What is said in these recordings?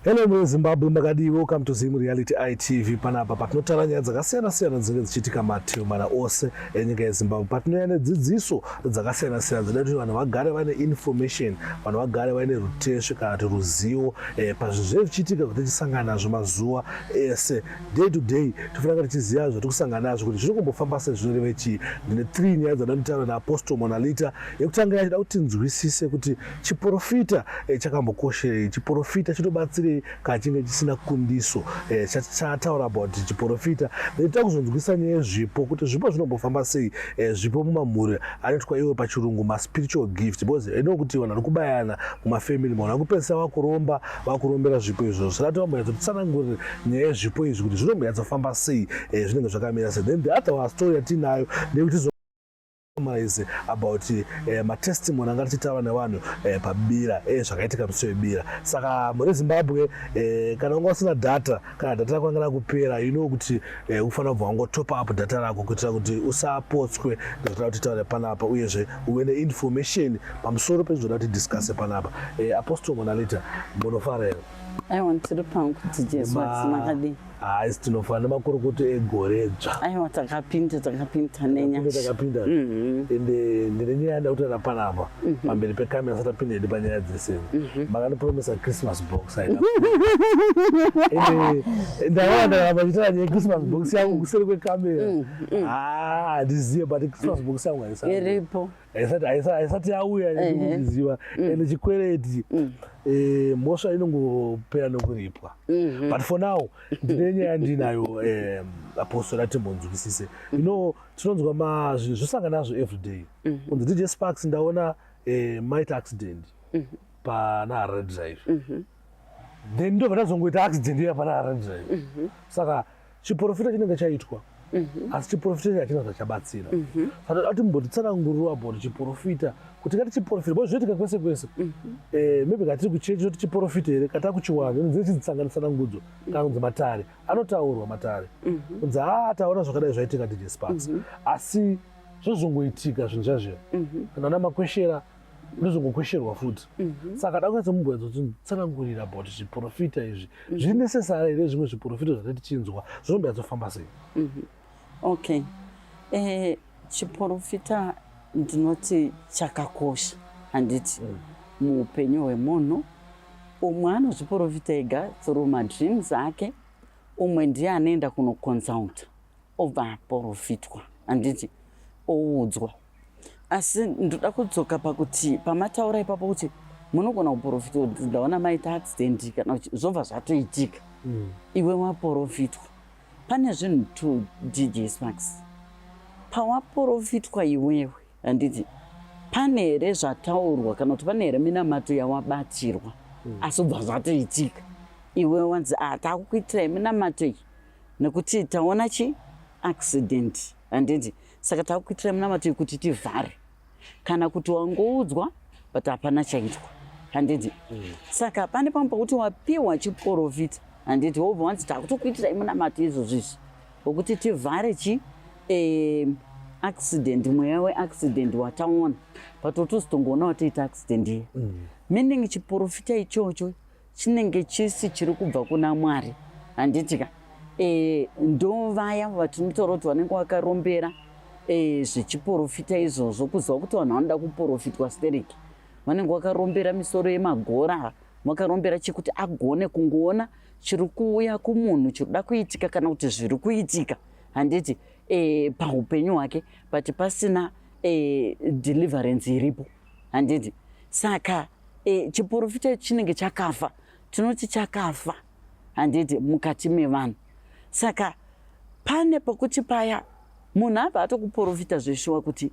Hello mune Zimbabwe makadii welcome to Zim Reality ITV panapa patinotaura nyaya dzakasiyana siyana dzinenge dzichiitika mativi mana ose enyika yeZimbabwe patinoya nedzidziso dzakasiyana siyana dzinoda kuti vanhu vagare vane information vanhu vagare vane rutesvi kana kuti ruzivo eh, pazvinhu zvinenge zvichiitika kuti tisangana nazvo mazuva ese day to day tofanira tichiziva zvatiri kusangana nazvo kuti zviri kumbofamba sei zvinoreve chii ndine three nyaya dzandanotaura naapostle monalita yekutanga yachida kuti tinzwisise kuti Chiporofita eh, chakambokosherei? Chiporofita chinobatsirei kana chinge chisina kundiso eh, chataura about chiporofita ndoita kuzonzwisa nyaya yezvipo kuti zvipo zvinombofamba sei eh, zvipo mumamhuri anoitwa iwe pachirungu maspiritual gift because endo eh, kuti vanhu vari kubayana mumafamily mavanhu vari kupedzisa vakuromba vakurombera zvipo izvozvo saka tinomboyatso titsanangurire nyaya yezvipo izvi kuti zvinomboyatsofamba sei eh, zvinenge zvakamira sei then the other story yatiinayo ndeyekuti summarize about eh, matestimony anga tichitaura nevanhu eh, pabira eh, zvakaitika musi webira saka muri zimbabwe eh, kana unga usina data kana data rako anga rakupera you know kuti eh, ufanira kubva wangotop up data rako kuitira kuti usapotswe nezvatoda kuti taure panapa uyezve uve neinformation pamusoro pezvoda kuti discusse panapa eh, apostle monalita munofara here aiwa ndisiri pangu kuti jesu vadzimakadii haisi tinofana nemakorokoto egore dzva aiwa takapinda takapinda nenyashatakapinda mhm. ende ndine nyaya yanda kutaura panapa mhm. pamberi pekamera sati apinda ende panyaya dzese mhm. makandipromisa christmas box ende ndaona ndaramba chitaura nyaya christmas box yangu kuseri kwekamera handizive ah, but christmas box yangu haisiripo haisati haisa- haisati yauya Ehe. ndikuziva Mm. and chikwereti Mm. eh, mhosva inongopera nokuripwa Mhm. but for now ndine nyaya yandinayo um, apostle atimbonzwisise you know tinonzwa ma zvi- zvosangana nazvo everyday Mhm. kunzi dj sparks ndaona eh, maita accident Mhm. pana harare drive Mhm. then ndobva tazongoita accident iya pana harare drive Mhm. saka chiporofita chinenge chaitwa mhm. asi chiporofita ichi hachina zvachabatsira mhm. saka toda kuti mumbotitsananguriro about chiporofita kuti kati chiporofita bo zvinoitika kwese kwese mhm. eh, maybe katiri kuchechi toti chiporofita here kata kuchiwana inonzii chidzitsanganitsanangudzo kana kunzi matare anotaurwa matare kunzi haa ah, taona zvakadai zvaitika dj sparks asi zvozongoitika zvinhu zvazvira kana ana makweshera ndozongokwesherwa futi mhm. saka ndakwanisa mubwenzo tsanangurira about zviprofita izvi mhm. zvinesesara here zvimwe zviprofita zvati tichinzwa zvinombe yadzofamba sei mhm. okay eh, chiprofita ndinoti chakakosha handiti mm. muupenyu hwemunhu umwe anozviprofita ega through madreams ake umwe ndiye anoenda kunoconsulta obva aprofitwa handiti oudzwa asi ndoda kudzoka pakuti pamataura ipapo kuti munogona kuprofitwa kuti ndaona maita accident kana kuti zvobva zvatoitika mm. iwe waprofitwa pane zvinhu two dj smax pawaprofitwa iwewe handiti pane here zvataurwa kana kuti pane here minamato yawabatirwa mm. asi ubva zvatoitika iwe wanzi ah, takukuitira iminamato iyi nekuti taona chi accident handiti saka takuitira munamato kuti tivhare kana kuti wangoudzwa but hapana chaitwa handiti mm. saka pane pamwe pakuti wapiwa chiporofita handiti wobva wanzi takutokuitira imunamato izvozvo izvi wekuti tivhare chi eh, accident mweya weaccident wataona but otozotongoona watoita accident iya mm. meaning chiporofita ichocho chinenge chisi chiri kubva kuna mwari handiti ka e, ndo vaya vatinotaura kuti vanenge vakarombera e, zvechiporofita izvozvo kuziva kuti vanhu vanoda kuporofitwa sterek vanenge vakarombera misoro yemagora vakarombera chekuti agone kungoona chiri kuuya kumunhu chiri kuda kuitika kana kuti zviri kuitika handiti e, paupenyu hwake but pasina e, deliverance iripo handiti saka e, chiporofita chinenge chakafa tinoti chakafa handiti mukati mevanhu saka pane pokuti paya munhu abva atokuporofita zveshuwa kuti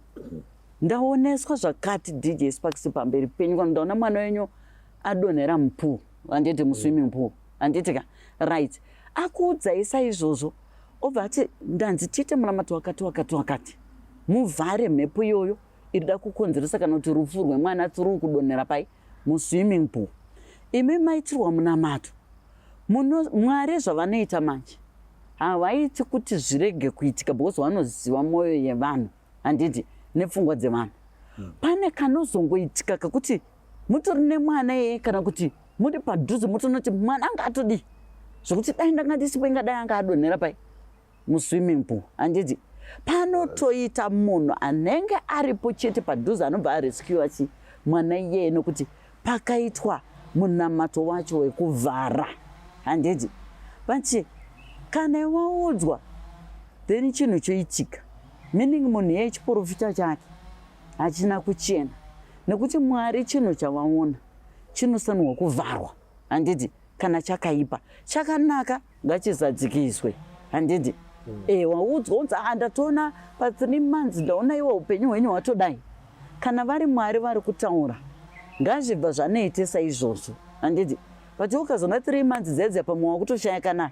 ndaoneswa zvakati dj sparks pamberi penyu kana ndaona mwana wenyu adonhera mupool handiti muswimming mm. pool handiti ka right akuudzai saizvozvo obva ati ndanzi tiite munamato wakati wakati wakati muvhare mhepo iyoyo iri da kukonzeresa kana kuti rufu rwemwana tsuru kudonhera pai muswimming pool imi maitirwa munamato muno mwari zvavanoita manje havaiti kuti zvirege kuitika because vanoziva mwoyo yevanhu handiti nepfungwa dzevanhu hmm. pane kanozongoitika kakuti mutori nemwana yeye kana kuti muri padhuze motonoti mwana anga atodii zvekuti dai ndanga ndisipo ingadai anga adonhera pai muswimming pool handiti panotoita munhu anenge aripo chete padhuze anobva arescua chi mwana iyeye nokuti pakaitwa munamato wacho wekuvhara handiti vachi kana iwaudzwa then chinhu choitika meaning munhu iye chiporofita chake hachina kuchena nekuti mwari chinhu chavaona chinosanirwa kuvharwa handiti kana chakaipa chakanaka ngachizadzikiswe handidi mm. e, waudzwa unzi ah, ndatoona pathree months ndaona iwe upenyu hwenyu hwatodai kana vari mwari vari kutaura ngazvibva zvanoitisa izvozvo handidi but ukazona three months dzedza pamwe wakutoshaya kana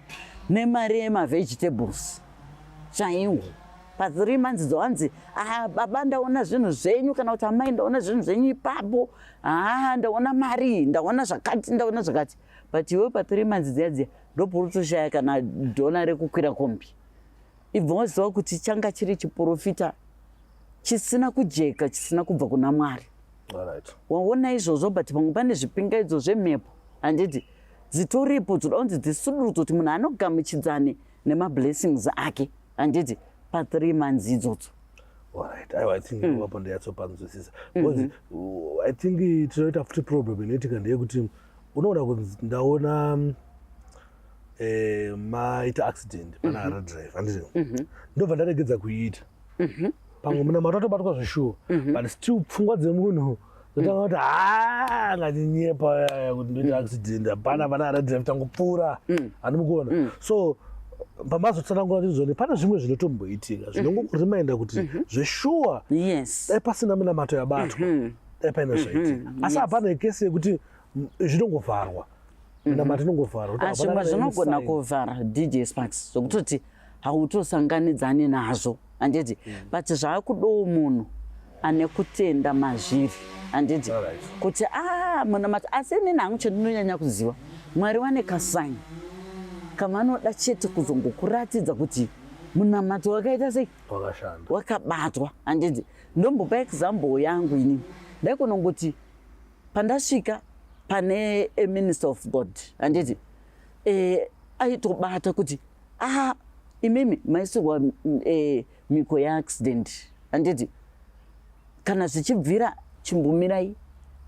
nemari yemavegetables chaiwo pathree months dzohanzi ah, baba ndaona zvinhu zvenyu kana kuti amai ndaona zvinhu zvenyu ipapo haa ah, ndaona mari ndaona zvakati ndaona zvakati but iwe pa three months dziya dziya ndoporutoshaya kana dhona rekukwira kombi ibva waziva kuti changa chiri chiprofita chisina kujeka chisina kubva kuna mwari waona izvozvo but pamwe pane zvipingaidzo zvemhepo handiti dzitoripo dzoda kunzi dzisudurudzo kuti munhu anogamuchidzani nemablessings ake handiti pathree months idzodzo Alright, I, I think mm. wapo ndiyatsopanzwisisa because mm -hmm. I think tinoita futi problem inoitika ndeyekuti mm -hmm. unoona kunzi ndaona eh, maita accident mhm. pana hara drive handizvo mhm. ndobva ndaregedza kuiita mhm. pamwe muna mato atobatwa zveshuwa but still pfungwa dzemunhu zotanga kuti ha ngatinyepa yaya kuti ndoita accident hapana pana hara drive tangopfuura handimukuona so pamazotsanangura kuti zvone pane zvimwe zvinotomboitika zvinongokureminda kuti zveshuwa dai pasina minamato yabatwa epaine zvaitika mhm, asi hapana ekesi yekuti zvinongovharwa mhm. nama tinongovharwa ah, zvimwe zvinogona kuvhara dj sparks zvokutoti hautosanganidzani nazvo handiti mm. but zvaakudowo munhu ane kutenda mazviri handiti kuti a ah, munamati asi inini hangu chandinonyanya kuziva mwari wane kasaini kavanoda chete kuzongokuratidza kuti munamato wakaita sei wakabatwa handiti Ndombopa example yangu ini ndaikonongoti pandasvika pane a minister of God handiti eh, aitobata kuti ah, imimi maisirwa eh, miko yeaccident handiti kana zvichibvira chimbumirai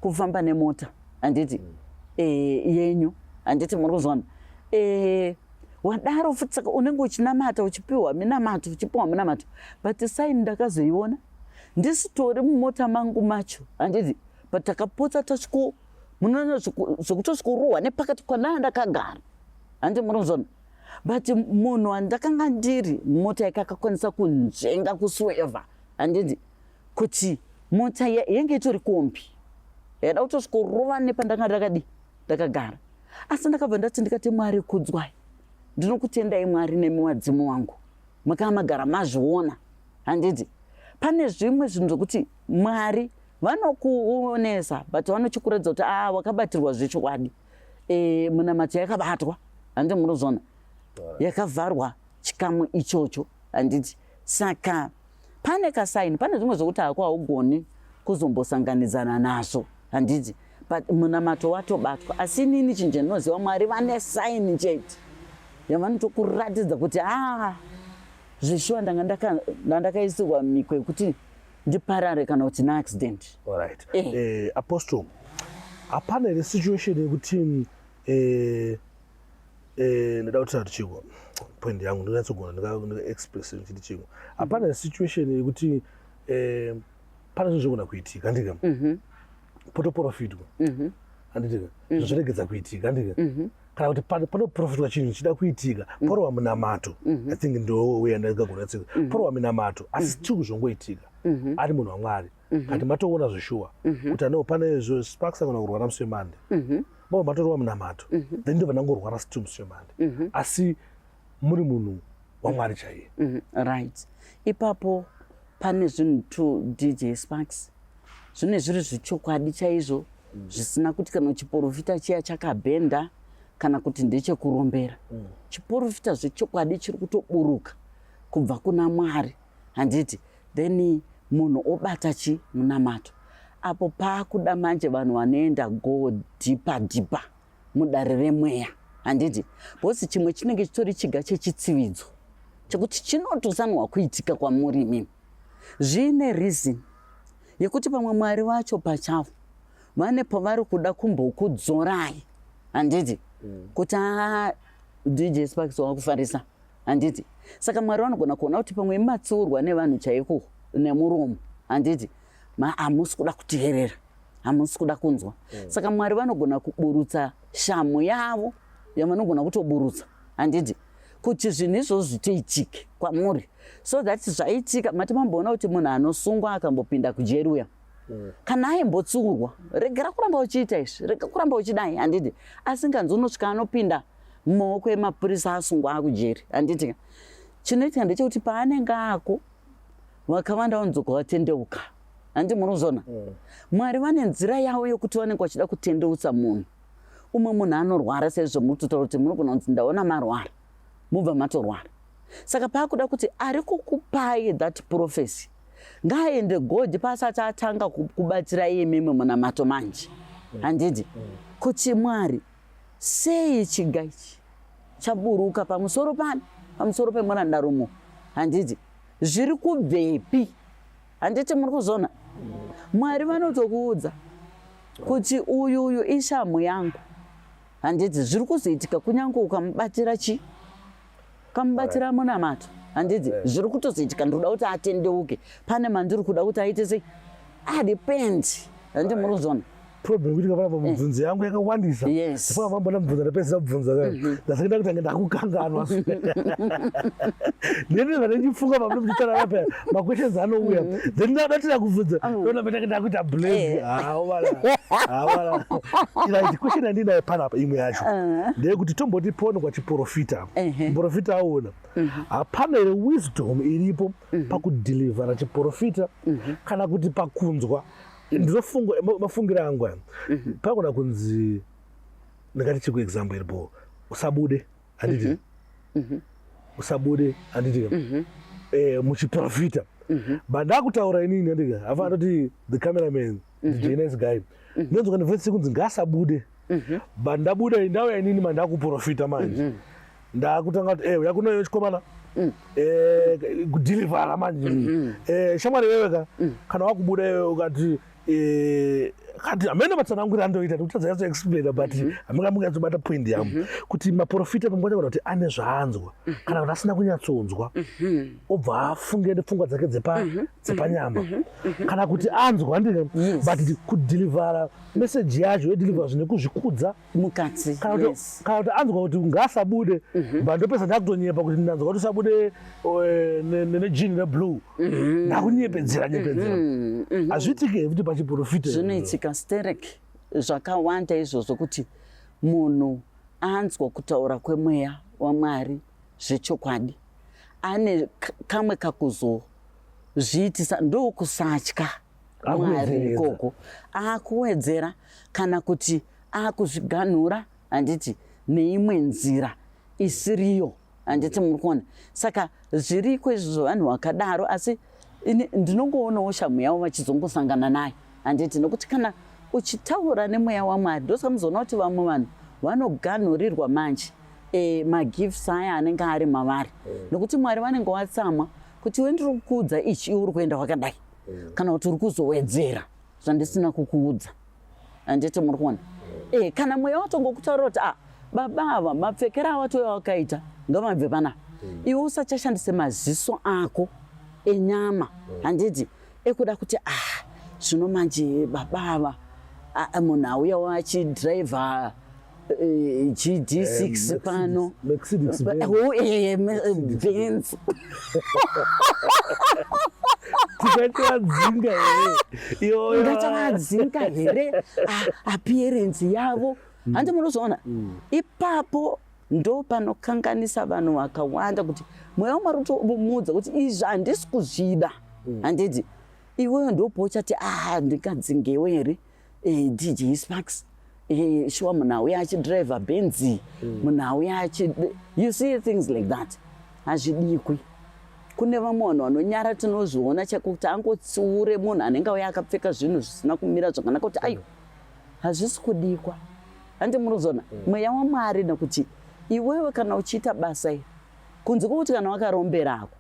kufamba nemota handiti mm. eh, yenyu handiti muri kuzwana eh, wadaro futi saka unenge uchinamata uchipiwa minamato uchipiwa minamato but sign ndakazoiona ndisitori mumota mangu macho handiti but takapotsa tasviko munoona zvekutosvikuruhwa nepakati kwanaa ndakagara handi munozona but munhu wandakanga ndiri mota yake akakwanisa kunzvenga kusweva handiti kuti mota yenge itori kombi yaida kutosvikurova nepandanga ndakadii ndakagara asi ndakabva ndati ndikati mwari kudzwai ndinokutendai mwari nemi wadzimu wangu makava magara mazviona handiti pane zvimwe zvinhu zvokuti mwari vanokuonesa but vanochikuratidza kuti a ah, wakabatirwa zvechokwadi e, eh, munamato yakabatwa handi munozona yakavharwa chikamu ichocho handiti saka pane kasaini pane zvimwe zvokuti hako haugoni kuzombosanganidzana nazvo handiti but munamato watobatwa asi inini chinhu chandinoziva mwari vane saini chete yavanotokuratidza kuti aa ah, zveshuwa ndanga ndandakaisirwa miko yekuti ndiparare kana kuti naaccident right. eh. eh, apostle hapana here situation yekuti eh, Eh, ndoda kuti tati chiko point yangu ndinyatsogona ndikaexpress ndichiti chiko hapana situation yekuti eh, pane zvinhu zvogona kuitika handika mhm. potoprofitwa mhm. handitika mhm. zvoregedza kuitika handika kana kuti panoprofitwa chinhu chida kuitika porova munamato i think ndouya ndagagona tsika porova minamato asi chiri kuzvongoitika ari munhu wamwari kati matoona zveshuwa kuti anoo pane zvo sparks agona kurwa namuswemande mama matorova munamato mhm. then ndobva ndangorwara still musi wemande mhm. asi muri munhu wamwari chaiye mhm. right ipapo pane zvinhu two dj sparks zvine zviri zvichokwadi chaizvo mm. zvisina kuti kana chiporofita chiya chakabhenda kana kuti ndechekurombera mm. chiporofita zvechokwadi chiri kutoburuka kubva kuna mwari handiti then munhu obata chi munamato apo paakuda manje vanhu vanoenda go dhipa dhipa mudare remweya handiti bhosi chimwe chinenge chitori chiga chechitsividzo chekuti chinotosanwa kuitika kwamuri imimi zviine reason yekuti pamwe mwari vacho pachavo vane pavari kuda kumbokudzorai handiti mm. kuti haa dj sparks wakufarisa handiti saka mwari vanogona kuona kuti pamwe matsiurwa nevanhu chaiko nemuromo handiti hamusi kuda kuteerera hamusi kuda kunzwa mm. saka mwari vanogona kuburutsa shamu yavo yavanogona kutoburutsa handiti kuti zvinhu izvozvo zvitoitike kwamuri so that zvaitika mati mamboona kuti munhu anosungwa akambopinda kujeri uya mm. kana aimbotsiurwa regera kuramba uchiita izvi rega kuramba uchidai handiti asinganzi unosvika anopinda mm. mumaoko emapurisa asungwa akujeri handiti ka chinoitika ndechekuti paanenge ako vakawanda vanodzoka vatendeuka handi muri kuzona mm. mwari vane nzira yavo yokuti vanenge vachida kutendeutsa munhu umwe munhu anorwara sezvo muri kutotaura kuti munogona kunzi ndaona marwara mubva matorwara saka paakuda kuti ari kukupai that profesi ngaaende god paasati atanga kubatsira iye mimwe munamato manje handidi kuti mwari Sei chiga ichi chaburuka pamusoro pani? Pamusoro pemurandarumo handiti? Zviri kubvepi? Handiti muri kuzona? Mwari vanotokuudza kuti uyu uyu ishamhu yangu handiti zviri kuzoitika kunyange ukamubatira chii kamubatsira munamato handiti eh. zviri kutozoitika ndikuda kuti atendeuke pane mandiri kuda kuti aite sei adepend ah, handiti muri kuzona problem kuti kavana pamubvunzo eh. yangu yakawandisa saka vambona mubvunzo ndapedza kubvunza mhm. ndasakenda kuti ange ndakukanganwa nene vanendifunga pamune muchitarara paya maquestions anouya mhm. then ndadatira kubvunza ah. ndona peta kenda kuita blame hawala eh. hawala ira question andinayo panapa imwe yacho ah. ndeyekuti tomboti pono profita muprofita aona mhm. hapana here wisdom iripo mhm. pakudhilivhara chiprofita mhm. kana kuti pakunzwa ndizofunga mafungira angu aya pagona kunzi ndingati chiku example iripo usabude handiti usabude handiti eh, muchiprofita bandakutaura inini handiti afa atoti the cameraman mhm. DJ Nice Guy mhm. ndonzwa kana voice kunzi ngasabude mhm. but ndabuda ndauya inini mandakuprofita manje ndakutanga kuti eh uya kunoyo chikomana mm. eh kudelivera manje eh shamwari wewe ka mm. kana wakubuda wewe ukati eh kati amene matsanangura andoita kuti tadza yaso explain but mhm. amika munga tsobata point yam mhm. kuti maprofita pamukwacha kuti ane zvaanzwa mhm. kana kuti asina kunyatsonzwa obva afunge nepfungwa dzake dzepa dzepanyama mhm, mhm, mhm. kana kuti anzwa ndine but kudhilivhara meseji yacho yodhilivhara zvine kuzvikudza mukati kana kuti anzwa kuti ngaasabude but ndopesa ndakutonyepa kuti ndanzwa kuti usabude eh, nejini reblue ndakunyepedzera nyepedzera hazviitike futi pachiprofita zvinoitika sterek zvakawanda izvozvo kuti munhu anzwa kutaura kwemweya wamwari zvechokwadi ane kamwe kakuzoa zviitisa ndokusatya mwari ikoko akuwedzera kana kuti akuzviganhura handiti neimwe nzira isiriyo handiti muri kuona saka zviriko izvi zvevanhu vakadaro asi ndinongoonawo shamhu yavo vachizongosangana nayo handiti nokuti kana uchitaura nemweya wamwari ndosaka muzoona kuti vamwe vanhu vanoganhurirwa manje e, magifts aya anenge ari mavari mm. nokuti mwari vanenge watsamwa kuti we ndiri kukuudza ichi iwe uri kuenda wakadai mm. kana kuti uri kuzowedzera zvandisina kukuudza handiti muri kuona mm. e, kana mweya watongokutaura kuti a ah, baba ava mapfekera awatoya wakaita ngavabve panapa mm. iwe usachashandise maziso ako enyama mm. handiti mm ekuda kuti ah zvino manje baba ava ah, ah, munhu auyawo achidriver eh, GD6 eh, pano Benz tikatoadzinga here iyoyo ndatoadzinga here ah, appearance yavo mm. hanzi munozoona mm. ipapo ndopanokanganisa vanhu vakawanda kuti mweya wamwari utomuudza kuti izvi handisi kuzvida mm. handiti iweyo ndopouchati ah ndingadzingewo here eh, dj sparks eh, shuwa munhu auya achidriver benzi mm. munhu auya achi you see things like that hazvidikwi kune vamwe vanhu vanonyara tinozviona chekuti angotsiure munhu anenge auya akapfeka zvinhu zvisina kumira zvakanaka kuti aiwa hazvisi kudikwa Handi muruzona mm. mweya waMwari nokuti iwewe kana uchiita basa iri kunze kwokuti kana wakarombera hako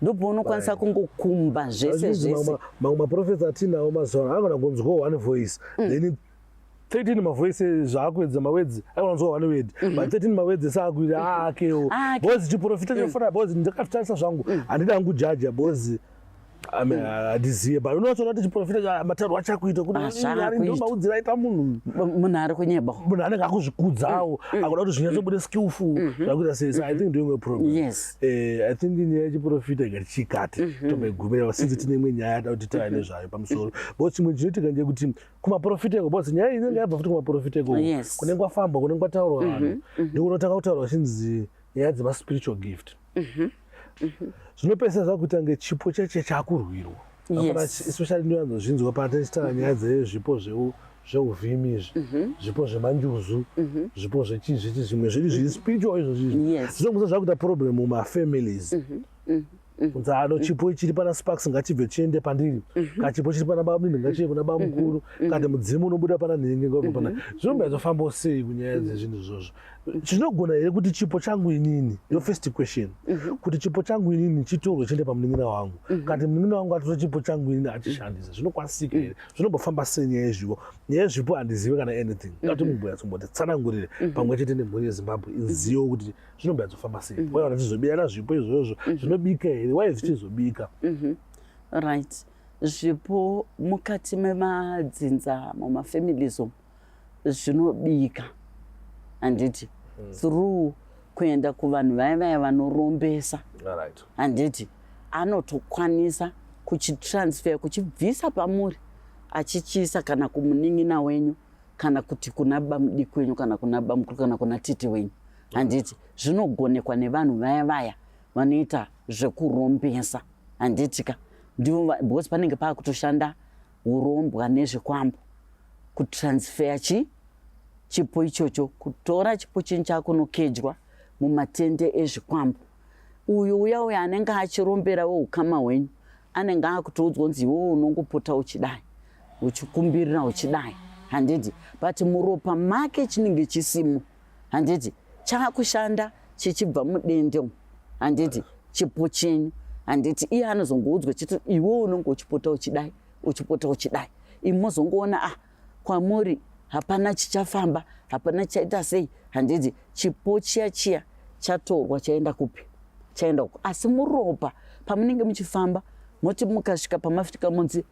ndopaunokwanisa kungokumba zvese zvese mamwe maprofesa atinawo mazuva ano anogona kunzwawo one voice mm. then 13 mavoice zvaakuedza mawedzi aiwanzwa one word mhm. but 13 mawedzi esaakuita mhm. aakewo ah, bcoz chiprofita mm. chofana bcoz ndakafitarisa zvangu mm. handida angu jaja bcoz handizive but unotoona kuti chiprofita mataurwa achakuita kutiaudzira aita munhu munhu ari kunyeba munhu anenge akuzvikudzawo mm, mm. akuda kuti zvinyatsobude mm. skillful mm-hmm. zvakuita sei so i think ndoimwe problem yes eh, i think nyaya yechiprofita ika tichikati mm-hmm. tomboigumira since tine imwe nyaya yada kuti tava nezvayo pamusoro but chimwe chinoitika nje kuti kumaprofita iko but nyaya inenge yabva futi kumaprofita iko kunenge kwafambwa kunenge kwataurwa vanhu mm-hmm. ndokunotanga kutaurwa chinzi nyaya dzemaspiritual gift mhm, mhm. zvinopesa zvakuita kunge chipo cheche chakurwirwa especially ndinoanzozvinzwa patachitaura nyaya dzezvipo zveu zveuvhimi izvi mhm. zvipo zvemanjuzu mhm. zvipo zvechii zvechi zvimwe zviri zviri spiritual izvo zvizvi zvinomusa zvakuita problem mumafamilies mhm. kunzi ano chipo chiri pana sparks ngachibve chiende pandiri ka chipo chiri pana bamnini ngachiende kuna bamukuru kati mudzimu unobuda pana nhingi ngobva pana zvinomba izofambawo sei kunyaya dzezvinhu izvozvo zvinogona here kuti chipo changu inini yo mhm. first question mm -hmm. kuti chipo changu inini chitorwe chiende pamunin'ina wangu mm -hmm. kati munin'ina wangu atore chipo changu inini achishandisa zvinokwanisika here mm -hmm. zvinombofamba sei nyaya yezvipo nyaya yezvipo handizive kana anything mhm. ngati mm -hmm. mumbuya tsomboti tsanangurire mm -hmm. pamwe chete nemhuri yezimbabwe mhm. izivo kuti zvinombuya tsofamba sei mm -hmm. waiona tizobiyana zvipo izvozvo mm -hmm. zvinobika here wai zvichizobika mm -hmm. right zvipo mukati memadzinza mumafamilies omu zvinobika handiti mm. through kuenda kuvanhu vaya vaya vanorombesa handiti anotokwanisa kuchitransfer kuchibvisa pamuri achichiisa kana kumunin'ina wenyu kana kuti kuna bamudiki wenyu kana kuna bamukuru kana kuna titi wenyu handiti mm. zvinogonekwa nevanhu vaya vaya vanoita zvekurombesa handiti ka ndivo because panenge paakutoshanda hurombwa nezvikwambo kutransfeya chi chipo ichocho kutora chipo chinhu chakunokejwa mumatende ezvikwambo uyu uya uya anenge achirombera weukama hwenyu anenge akutoudzwa kunzi iwewe unongopota uchidai uchikumbirira uchidai handidi but muropa make chinenge chisimo handiti chaakushanda chichibva mudende umu handiti chipo chenyu handiti iye anozongoudzwa chiti iwe unonge uchipota uchidai uchipota uchidai imi mozongoona ah kwamuri hapana chichafamba hapana chichaita sei handiti chipo chiya chiya chatorwa chaenda kupi chaenda uko asi muropa pamunenge muchifamba moti mukasvika pamafika munzi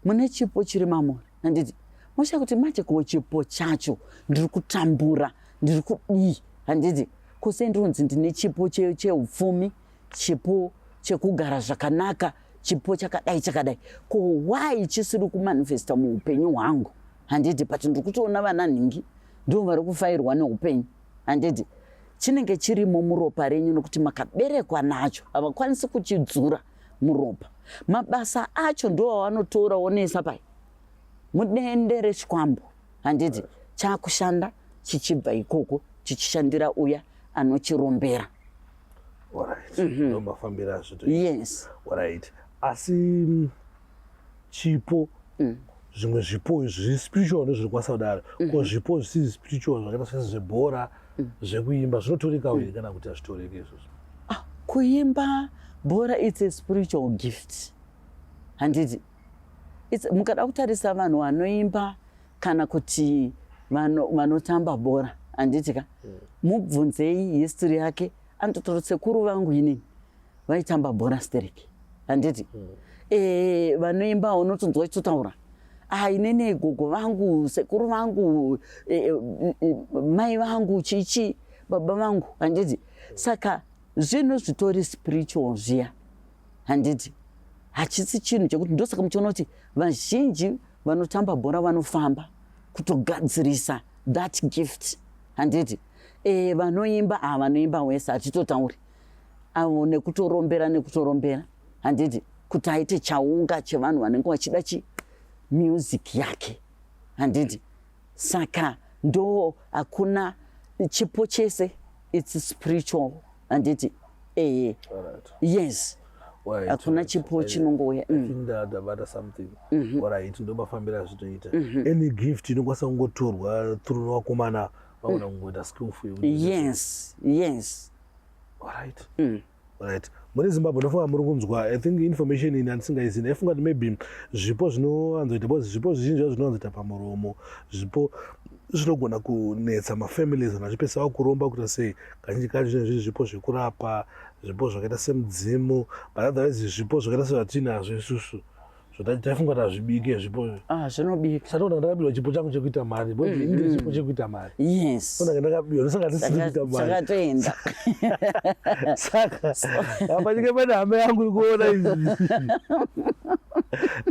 mune chipo chiri mamuri handiti mosha kuti manje ko chipo chacho ndiri kutambura ndiri kudii handiti kose ndironzi ndine chipo cheupfumi chipo chekugara zvakanaka chipo chakadai chakadai ko why chisiri kumanifesta muupenyu hwangu handiti but ndiri kutoona vana nhingi ndivo vari kufairwa neupenyu handiti chinenge chirimo muropa renyu nokuti makaberekwa nacho havakwanisi kuchidzura muropa mabasa acho ndovavanotora wonesa pai mudende rechikwambo handiti chakushanda chichibva ikoko chichishandira uya anochirombera mhm. yes asi chipo mm. zvimwe zvipo zviri spiritual nezviri kwasadari ko mm-hmm. zvipo zvisizi spiritual zvakaita sese zvebhora mm. zvekuimba zvinotoreka uye mm. kana kuti hazvitoreke izvozvo ah, kuimba bhora its a spiritual gift handiti mukada kutarisa vanhu vanoimba kana kuti vanotamba bhora handiti ka mm. mubvunzei history yake anototoro sekuru vangu inini vaitamba bhora stereki handiti mm. e, vanoimba unotonzwa chitotaura ah, inene gogo vangu sekuru vangu e, e, e, mai vangu chichi baba vangu handiti saka zvinhu zvitori spiritual zviya handiti hachisi chinhu chekuti ndosaka muchiona kuti vazhinji vanotamba bhora vanofamba kutogadzirisa that gift handiti e, vanoimba a ah, vanoimba wese hatitotauri avo nekutorombera nekutorombera handiti kuti aite chaunga chevanhu vanenge vachida chi music yake handiti saka ndo hakuna chipo chese its spiritual handiti ehe yes hakuna chipo chinongouya mm. ndabata something mhm. orit ndomafambira azvitoita mhm. any gift inokwanisa kungotorwa through vakomana vaona mm. kungoita skillful yes yes Alright. Mm. Right. Muri Zimbabwe ndofunga muri kunzwa I think information ini andisingaizini aifunga kuti maybe zvipo zvinowanzoita because zvipo zvizhinji zvinowanzoita pamuromo zvipo zvinogona kunetsa mafamilies anhu achipesava kuromba kuita sei kazhinji kacho zvinenge zviri zvipo zvekurapa zvipo zvakaita semudzimu but otherwise zvipo zvakaita sezvatinazvo isusu zvatafunga kuti hazvibike zvipo ah, zvinobika satoona ndakabirwa chipo changu chekuita mari bo mm, inde mm. chipo chekuita mari yes ndanga ndakabirwa ndosaka tisiri kuita mari sakatoenda saka apa chike pane hama yangu ikuona izvi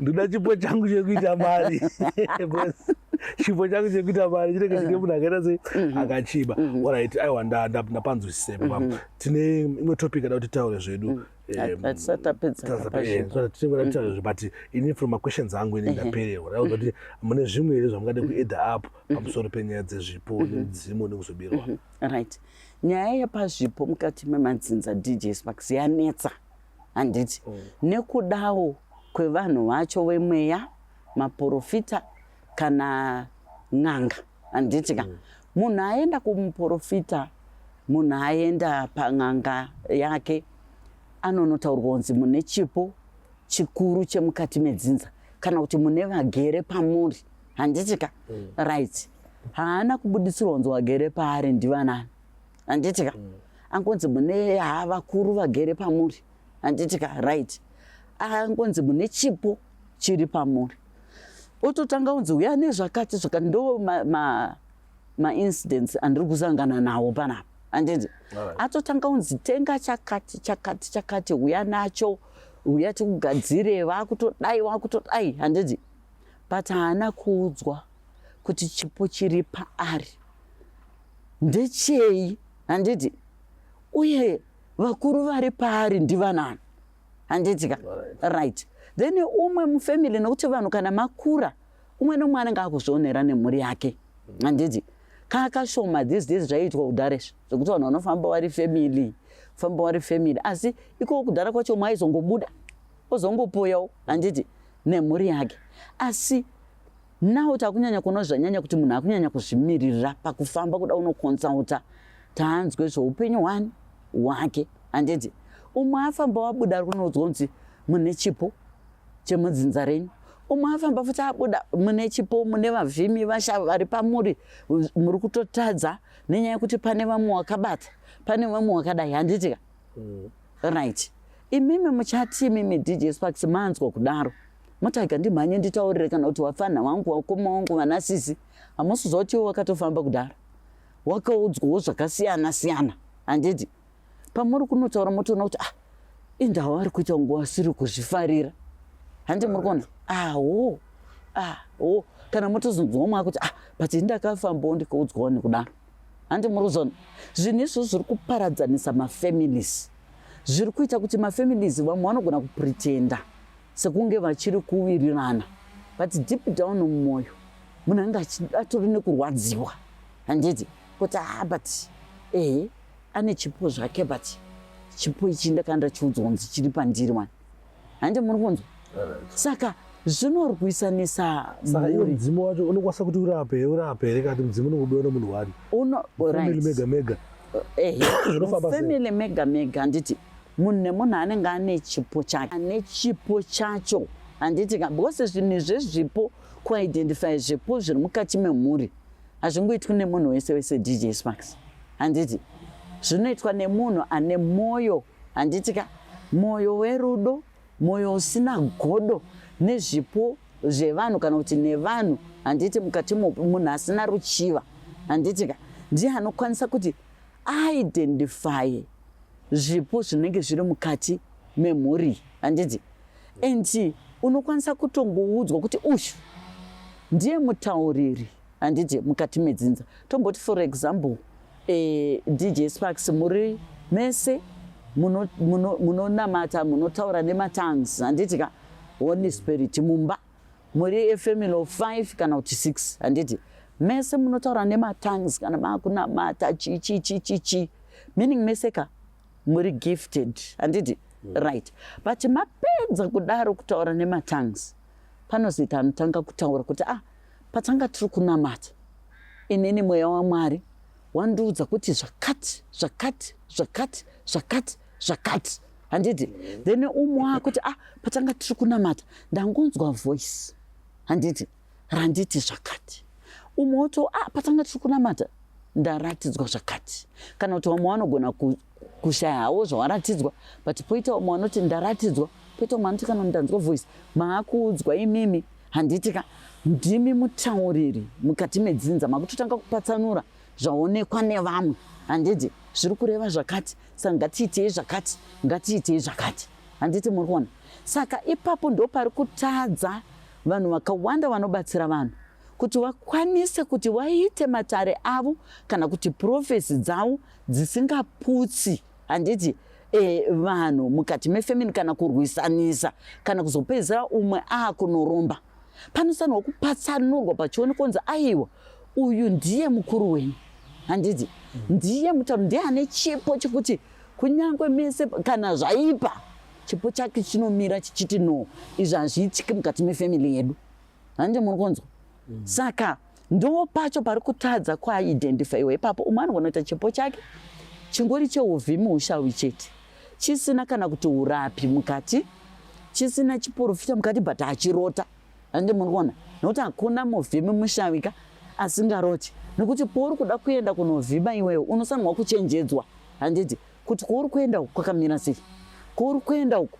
ndoda chipo changu chekuita mari chipo changu chekuita mari chinenge chine munhu akaita sei mm-hmm. akachiba mm-hmm. orit aiwa ndapanzwisise mm-hmm. tine imwe topic ada kuti taure zvedu mm. but ini from maquestions angu ini ndapererwa rauza kuti mune zvimwe here zvamungade kueda up mhm. pamusoro penyaya dzezvipo mhm. nemidzimu nekuzobirwa mhm. right nyaya yepazvipo mukati memadzinza dj sparks yanetsa handiti oh. nekudawo kwevanhu vacho vemweya maporofita kana n'anga handiti ka mm. munhu aenda kumuprofita munhu aenda pan'anga yake anonotaurwa kunzi mune chipo chikuru chemukati medzinza kana kuti mune vagere pamuri handiti ka mm. right haana kubuditsirwa kunzi wagere paari ndivanani handiti ka mm. angonzi mune ha vakuru vagere pamuri handiti ka right angonzi mune chipo chiri pamuri ototanga unzi uya nezvakati zvakati ndo maincidents ma, ma andiri kusangana nawo panapa anditi atotanga unzi tenga chakati chakati chakati uya nacho uya tikugadzire vakutodai vakutodai handiti but haana kuudzwa kuti chipo chiri paari ndechei handiti uye vakuru vari paari ndivanani handiti ka right then umwe mufamily nokuti vanhu kana makura umwe nomwe anenge akuzvionera nemhuri yake handiti kakashoma these days zvaiitwa kudhara izvi zvekuti vanhu vanofamba vari family famba vari family asi ikoko kudhara kwacho mwaizongobuda ozongopoyawo handiti nemhuri yake asi Now kuti akunyanya kuona zvanyanya kuti munhu akunyanya kuzvimirira pakufamba kuda unokonsulta taanzwe zvoupenyu hwani hwake handiti umwe afamba wabuda ari kunoudzwa kunzi mune chipo chemudzinza renyu umwe afamba futi abuda mune chipo mune vavhimi vasha vari pamuri muri kutotadza nenyaya yekuti pane vamwe wakabata pane vamwe wakadai handitika mm. right imimi muchati imimi dj sparks manzwa kudaro Mutaiga ndimhanye nditaurire kana kuti wafanha wangu wakoma wangu vana sisi hamusi zvautiwo wakatofamba kudhara wakaudzwawo zvakasiyana siyana handiti pamuri kunotaura motoona kuti ah indawo ari kuita kunge wasiri kuzvifarira handi muri kuona awo ah, awo ah, kana motozonzwa umwe akuti ah but ndakafambawo ndikaudzwawo nekudaro handi muri kuzona zvinhu izvo zviri kuparadzanisa mafamilies zviri kuita kuti mafamilies vamwe vanogona kupretenda sekunge vachiri kuwirirana but deep down mumwoyo munhu ange atori nekurwadziwa handiti kuti ha ah, but ehe ane chipo zvake but chipo ichi ndakanda chiudzwa kunzi chiri pandiri wani handi muri kunzwa saka zvinorwisanisa mudzimu wacho unokwanisa kuti urape urape here kati mudzimu unokubiwa nemunhu wani mega mega eh, family mega mega handiti munhu nemunhu anenge ane chipo chake ane chipo chacho handiti ka because zvinhu izvezvipo kuidentify zvipo zviri mukati memhuri hazvingoitwi nemunhu wese wese dj sparks handiti zvinoitwa nemunhu ane mwoyo handiti ka mwoyo werudo mwoyo usina godo nezvipo zvevanhu kana kuti nevanhu handiti mukati mopi munhu asina ruchiva handiti ka ndiye anokwanisa kuti aidentify zvipo zvinenge zviri mukati memhuri handiti and unokwanisa kutongoudzwa kuti uyu ndiye mutauriri handiti mukati medzinza tomboti for example eh, dj sparks muri mese munonamata muno, muno munotaura nematangs handiti ka holy spirit mumba Muri a family of five kana kuti six handiti mese munotaura nematongues kana maakunamata chichichichichi meaning mese ka muri gifted handiti mm. right but mapedza kudaro kutaura nematongues panozoita anotanga kutaura kuti ah patanga tiri kunamata inini mweya wamwari wandiudza kuti zvakati zvakati zvakati zvakati zvakati handiti then umwe akuti ah patanga tiri kunamata ndangonzwa voice handiti randiti zvakati umwe woto ah patanga tiri kunamata ndaratidzwa zvakati kana kuti vamwe vanogona kushayawo zvawaratidzwa but poita vamwe vanoti ndaratidzwa poita vamwe vanoti kana ndanzwa voice maakuudzwa imimi handiti ka ndimi mutauriri mukati medzinza makutotanga kupatsanura zvaonekwa nevamwe handiti zviri kureva zvakati saka ngatiitei zvakati ngatiitei zvakati handiti muri kuona saka ipapo ndo pari kutadza vanhu vakawanda vanobatsira vanhu kuti vakwanise kuti vaite matare avo kana kuti profesi dzavo dzisingaputsi handiti e, vanhu mukati mefemini kana kurwisanisa kana kuzopedzisira umwe akunoromba panosanirwa kupatsanurwa pachione konzi aiwa uyu ndiye mukuru wenyu handiti ndiye mutauri ndiye ane chipo chekuti kunyange mese kana zvaipa chipo chake chinomira chichiti no izvi hazviitiki mukati mefamily yedu handi muri kunzwa mm. saka Ndiwo pacho pari kutadza kuidentifyiwa ipapo. Umwe anogona kuita chipo chake chingori cheuvi muushawi chete chisina kana kuti urapi mukati chisina chiporofita mukati but achirota ange muri kuona nokuti hakuna muvhimi mushawika asingaroti nokuti pouri kuda kuenda kunovhima iwewe unosanirwa kuchenjedzwa handiti kuti kwauri kuenda uku kwakamira sei kwauri kuenda uku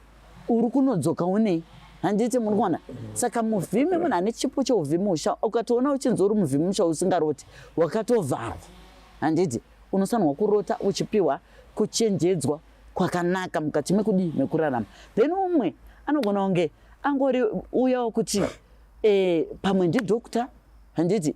uri kunodzoka unei handiti muri kuona saka muvhimi munhu ane chipo cheuvhimi usha ukatoona uchinzi uri muvhimi musha usingaroti wakatovharwa handiti unosanirwa kurota uchipiwa kuchenjedzwa kwakanaka mukati mekudii mekurarama then umwe anogona kunge angori uya wokuti e, pamwe ndidokta handiti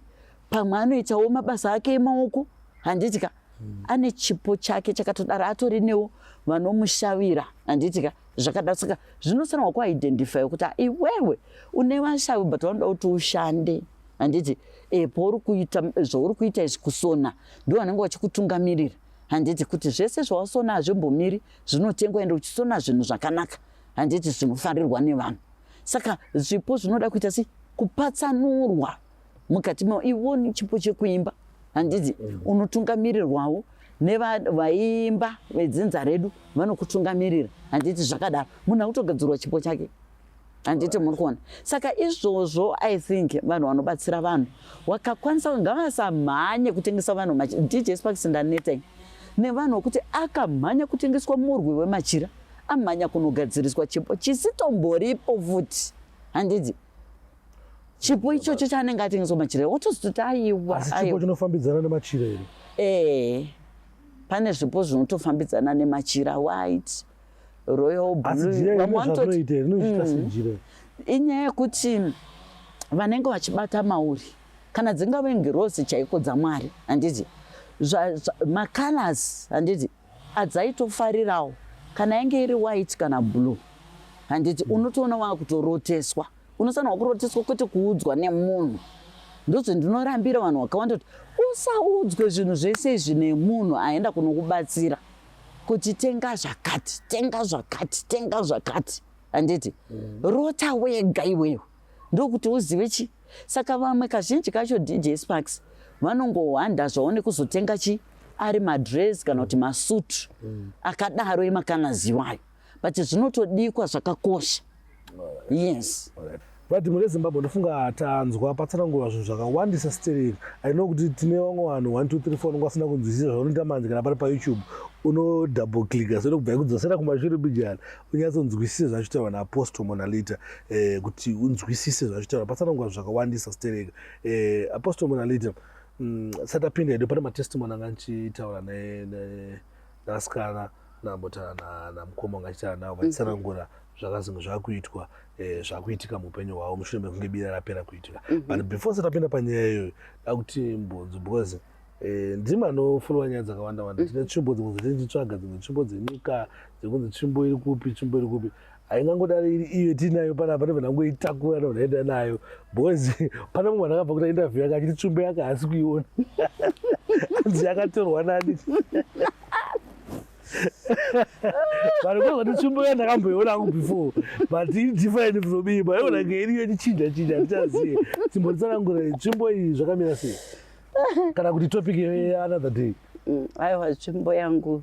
pamwe anoitawo mabasa ake emaoko handiti ka mm. ane chipo chake chakatodaro atori newo vanomushavira handiti ka zvakadaro saka zvinosanirwa kuidentify kuti iwewe une vashavi but vanoda kuti ushande handiti e, pauri kuita zvauri kuita izvi kusona ndo vanenge vachikutungamirira handiti kuti zvese zvawasona hazvimbomiri zvinotengwa ende uchisona zvinhu zvakanaka handiti zvinofarirwa nevanhu saka zvipo zvinoda kuita si kupatsanurwa mukati mavo ivo chipo chekuimba handizi mm. unotungamirirwawo nevaimba vedzinza redu vanokutungamirira handiti zvakadaro munhu akutogadzirwa chipo chake handiti muri kuona saka izvozvo i think vanhu vanobatsira vanhu wakakwanisa ngavasamhanye kutengesa vanhu dj sparks ndaneteng nevanhu wekuti akamhanya kutengeswa murwi wemachira amhanya kunogadziriswa chipo chisitomboripo futi handiti chipo ichocho chaanenge atengeswa machira wotozototi aiwachipo chinofambidzana nemachira ere ee pane zvipo zvinotofambidzana nemachira white royal blueinoita mm. inyaya yekuti vanenge vachibata mauri kana dzingave ngirosi chaiko dzamwari handiti macolors handiti adzaitofarirawo kana yange iri white kana blue handiti unotoona waakutoroteswa unosanirwa kurotiswa kwete kuudzwa nemunhu ndozve ndinorambira vanhu vakawanda kuti usaudzwe zvinhu zvese izvi nemunhu aenda kunokubatsira kuti tenga zvakati tenga zvakati tenga zvakati handiti mm. rota wega iweyo ndokuti uzive chii saka vamwe kazhinji kacho dj sparks vanongohwanda zvavo nekuzotenga chii ari madress kana kuti masutu mm. akadaro emakanaziwayo but zvinotodikwa zvakakosha yes but mune zimbabwe ndofunga tanzwa patsanangurwa zvinhu zvakawandisa sterek aino kuti tine vamwe vanhu 123 nonga asina kunzwisisa zvaunoita manje kana pari payoutube unodouble clicka so inokubva ikudzosera kumashure bijana unyatsonzwisise zvachotaurwa naapostle monalita eh, kuti unzwisise zvachotaurwa patsanangurwa zvinhu zvakawandisa sterek eh, apostle monalita mm, satapinda edu pane matestimony anga ndichitaura nasikana nambotaura namukoma wanga achitaura navo vachitsanangura mhm. zvakazenge zvakuitwa eh, zvakuitika muupenyu hwavo mushure mekunge bira rapera kuitika mhm. but before satapinda panyaya iyoyo dakuti mbonzo because eh, ndima anofollowa nyaya dzakawanda wanda mhm. tine tsvimbo dzimwe dzatiri tichitsvaga dzimwe tsvimbo dzenyika dzekunzi tsvimbo iri kupi tsvimbo iri kupi haingangodari iri iyo tiinayo panapa ndobva ndangoitakura ndobva ndaenda nayo because pane mumwe vanhu akabva kuita interview yake achiti tsvimbo yake haasi kuiona anzi yakatorwa nani vanhu kwazvati tsvimbo ya ndakamboiona angu before but iri different from iyi maiona ngeiriyo ichichinja chinja handichazive timbonditsanangura tsvimbo iyi zvakamira sei kana kuti topic another day mm, aiwa tsvimbo yangu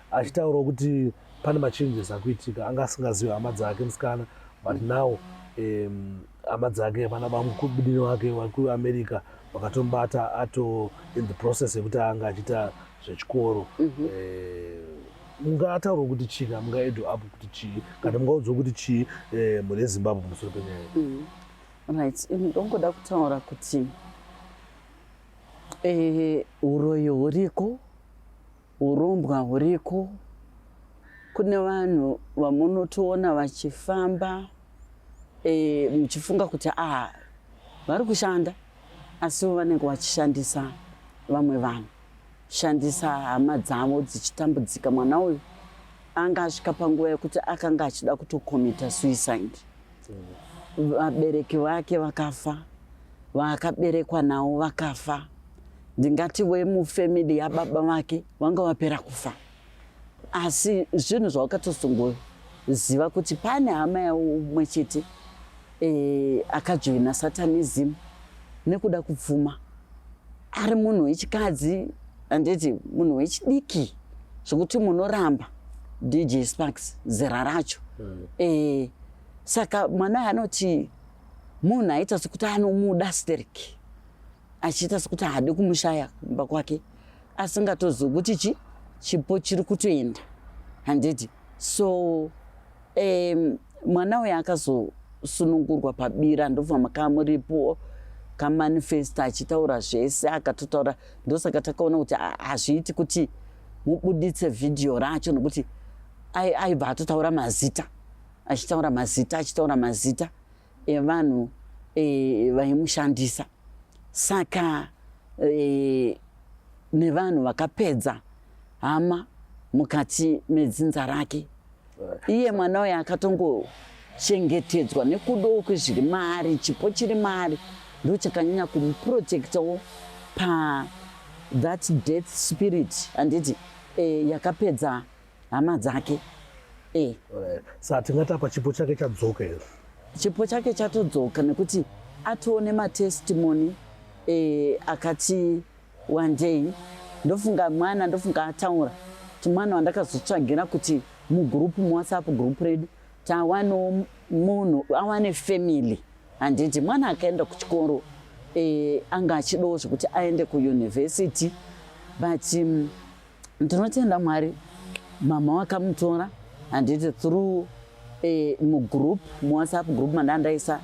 achitaurawo kuti pane machanges akuitika anga asingazivi hama dzake musikana but now um, hama dzake vana vamukubudini wake vari kuamerica vakatombata ato in the process yekuti anga achiita zvechikoro mhm. eh, mungaataurwa kuti chii kana mungaedho apo kuti chii kana mungaudzwa kuti chii eh, mhuri yezimbabwe pamusoro penyaya mhm. right ndongoda kutaura kuti eh, uroyo huriko Hurombwa huriko kune vanhu vamunotoona vachifamba e, muchifunga kuti ah vari kushanda asi vanenge vachishandisa vamwe vanhu shandisa hama dzavo dzichitambudzika mwana uyu anga asvika panguva yekuti akanga achida kutokomita suicide vabereki vake vakafa vaakaberekwa nawo vakafa ndingati wemufamily yababa vake vanga vapera kufa asi zvinhu zvawakatozongoziva kuti pane hama yaumwe chete e, akajoina satanism nekuda kupfuma ari munhu wechikadzi Handiti munhu wechidiki zvekuti munoramba DJ Sparks zera racho. Mm. Eh, saka mwana anoti munhu aita sekuti anomuda Sterek achiita sekuti haadi kumushaya kumba kwake asingatozivi kuti chi chipo chiri kutoenda handiti so Um, mwana uyo akazosunungurwa pabira ndobva makaa muripo kamanifesta achitaura zvese akatotaura ndosaka takaona kuti hazviiti kuti mubuditse vhidhiyo racho nokuti aibva atotaura mazita achitaura mazita achitaura mazita evanhu e, vaimushandisa saka e, nevanhu vakapedza hama mukati medzinza rake iye mwana uyo akatongochengetedzwa nekudoku zviri maari chipo chiri maari ndo chakanyanya kumuprotectawo pa that death spirit handiti e, yakapedza hama dzake eh. sa tingatapa chipo chake chadzoka here chipo chake chatodzoka nekuti atoone matestimony eh, akati wandei ndofunga mwana ndofunga ataura ti mwana wandakazotsvagira kuti mugroup muwhatsapp group redu tawano munhu awane family handiti mwana akaenda kuchikoro eh, anga achidawo zvekuti aende kuyunivhesiti but um, ndinotenda mwari mama wakamutora handiti through eh, mugroup muwhatsapp group mandandaisa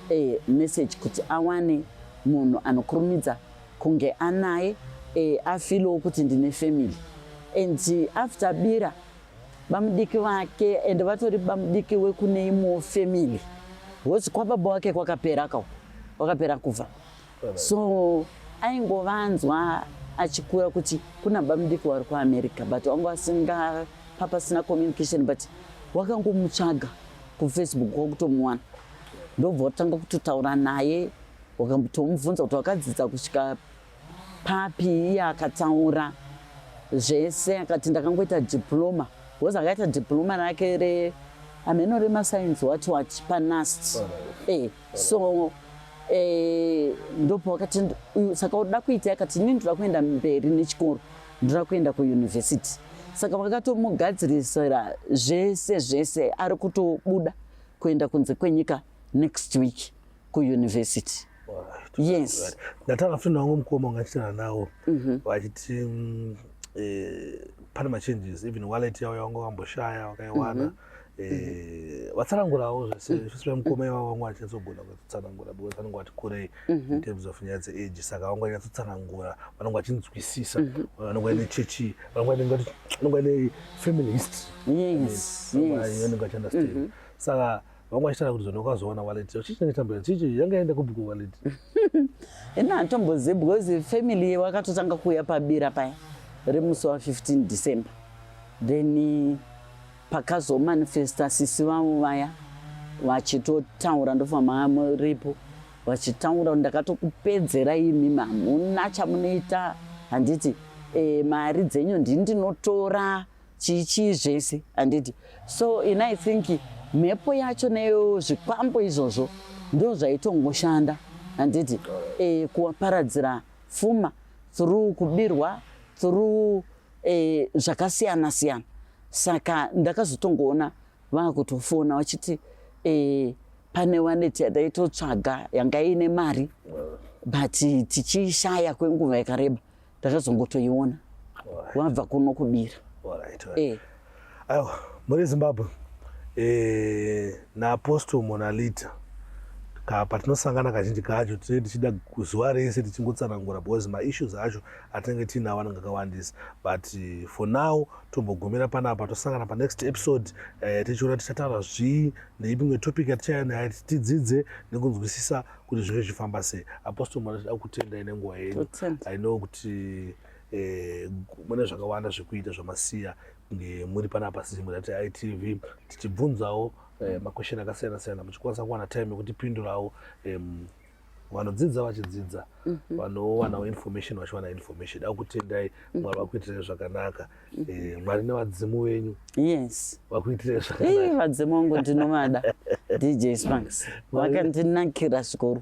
eh, message kuti awane munhu anokurumidza kunge anaye eh, afilowo kuti ndine family and after bira bamudiki vake and vatori bamudiki wekune imwewo family hosi kwababa wake kwakapera kawo kwakapera kubva so aingovanzwa achikura kuti kuna bamudiki wari kuamerica but wanga wasinga papasina communication but wakangomutsvaga kufacebook wakutomuwana ndobva watanga kutotaura naye wakambotomubvunza kuti wakadzidza kusvika papi iye akataura zvese akati ndakangoita diploma bcause akaita diploma rake reameno remasainzi wacho wachi panast e eh. so eh, ndopo wakati saka uda kuita yakati ini ndoda kuenda mberi nechikoro ndoda kuenda kuyunivhesiti saka vakatomugadzirisira zvese zvese ari kutobuda kuenda kunze kwenyika next week kuyunivhesiti yes ndatanga futi nawangu mukoma ungachitana nawo mhm. vachiti mm, eh, pane machanges even wallet yavo yawanga wamboshaya wakaiwana mm -hmm. Eh, vatsanangurawo zvese mm. zvese vemukoma ivavo vanga vachinyatsogonda kutsanangura because vanenge vati kurei mm-hmm. in terms of nyaya dzeage saka vanga vanyatsotsanangura vanenge vachinzwisisa mm-hmm. vanenge vaine chechi vanenge vaine family historyvanenge vachiunderstand mm-hmm. saka vanga vachitara kuti zona ukazoona waleti chii chinenge tambira chichi yanga yaenda kupi kuwaleti ina hantombozivi because family wakatotanga kuuya pabira paya remusi wa 15 december then Pakazomanifesta sisi vavo vaya vachitotaura ndobva mamuripo vachitaura ndakatokupedzera imi mamuna chamunoita handiti e, mari dzenyu ndi ndinotora chichii zvese handiti so in i think mhepo yacho neyo zvikwambo izvozvo ndo zvaitongoshanda handiti e, kuwaparadzira fuma through kubirwa through e, zvakasiyana siyana saka ndakazotongoona vakutofona vachiti e, pane waneti yataitotsvaga yanga iine mari but tichiishaya kwenguva yakareba ndakazongotoiona wabva kuno kubira e. Aiwa, muri Zimbabwe e, naapostle Monalita ka patinosangana kazhinji kacho tinenge tichida zuva rese tichingotsanangura because maissues acho atinenge tiinawo anenge akawandisa but for now tombogumira panapa tosangana panext episode eh, tichiona tichataura zvii neipi imwe topic yatichaya naye tidzidze nekunzwisisa kuti zvinge zvichifamba sei apostle mwana tida kutendai nenguva yenyu i know kuti eh, mune zvakawanda zvekuita zvamasiya kunge muri panapa sizimu rati itv tichibvunzawo eh, makwesheni akasiyana siyana muchikwanisa kuwana time yekutipindurawo um, vanodzidza vachidzidza mm -hmm. vanowanawo information vachiwana information da kutendai mhm. mwari vakuitirei zvakanaka mm -hmm. e, mwari nevadzimu venyu yes vakuitirei zvakanaavadzimu wangu ndinovada dj spanks vakandinakira zvikuru